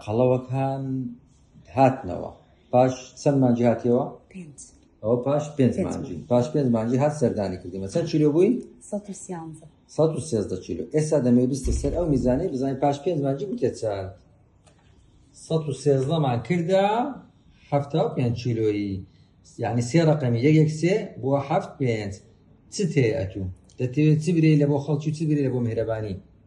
قەڵەوەکان هاتنەوە پاش چەند مانجی هاتیەوە ئەوە پاش پێنج مانجی پاش پێنج مانجی هات سەردانی کردیمە چەند چیلو بووی 113 کیلو ئێستا دەمێ بیستە سەر ئەو میزانەی بزانین پاش پێنج مانجی بکە چەند 113 مان کردە هەفتا و پێنج کیلۆیی یعنی سێ ڕقەمی یەکێک سێ بۆ هەفت پێنج چ تێ ئەتوو دەتەوێت چ برێ لە بۆ خەڵکی چ برێ لە بۆ مهرەبانی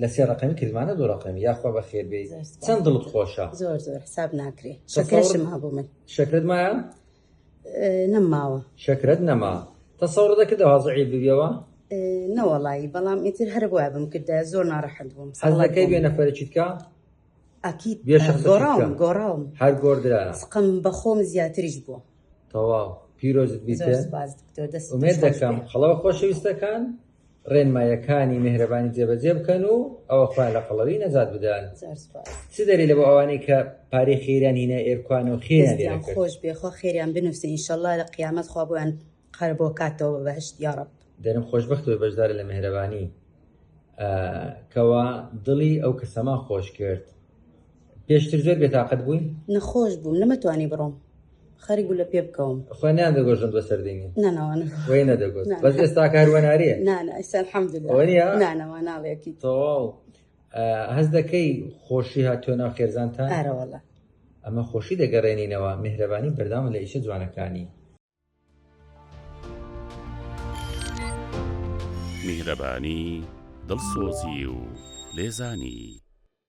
لە سێ ڕقمی کردمانە دوو ڕقمی یاخوا بە خێربێ چەند دڵت خۆشە زۆر زۆر حساب ناکرێ شەکرشم هەبوو من شەکرت مایە نەماوە شەکرت نەما تەسەڕ دەکرد هازعی ببیەوە نەوەڵی بەڵام ئیتر هەر وای بم کردە زۆر ناڕەحەت بووم سەڵەکەی بێ نەفەرچیتکە ئاکیت گۆڕاوم گۆڕاوم هەر گۆردرا سقم بەخۆم زیاتریش بووە تەواو پیرۆزت بیت دەکەم خڵەوە خۆشەویستەکان ڕێنمایەکانی مهرەبانی جێبەجێ بکەن و ئەوە خۆیان لە قەڵەوی نەجات بدەن چ دەری لە بۆ ئەوانەی کە پارەی خێریان هینە ئێرکوان و خێریان خۆش بێخۆ خێریان بنووسن ئینشەڵا لە قیامەت خوا بۆیان قەر بۆ کاتەوە بەهشت یاڕب دەرم خۆشببختەوە بەشدارە لە مهرەبانی کەوا دڵی ئەو کەسەما خۆش کرد پێشتر زۆر بێتاقەت بووی نەخۆش بووم نەمەتوانی بڕۆم خەری گولە پێ بکەوم خوێنیان دەگۆژن بە سەردینی نانەوانە وی نەدەگوت نعم. بەس ئێستا کاروەناریە نانە ئەستا الحمد لله وەنیە؟ نانەوە ناڵێکی تەواو آه، هەز دەکەی خۆشی هاتووە ناو خێزانتان ئارەوەڵە ئەمە خۆشی دەگەڕێنینەوە میهرەبانی بەرداوم لە ئیشە جوانەکانی میهرەبانی دڵسۆزی و لێزانی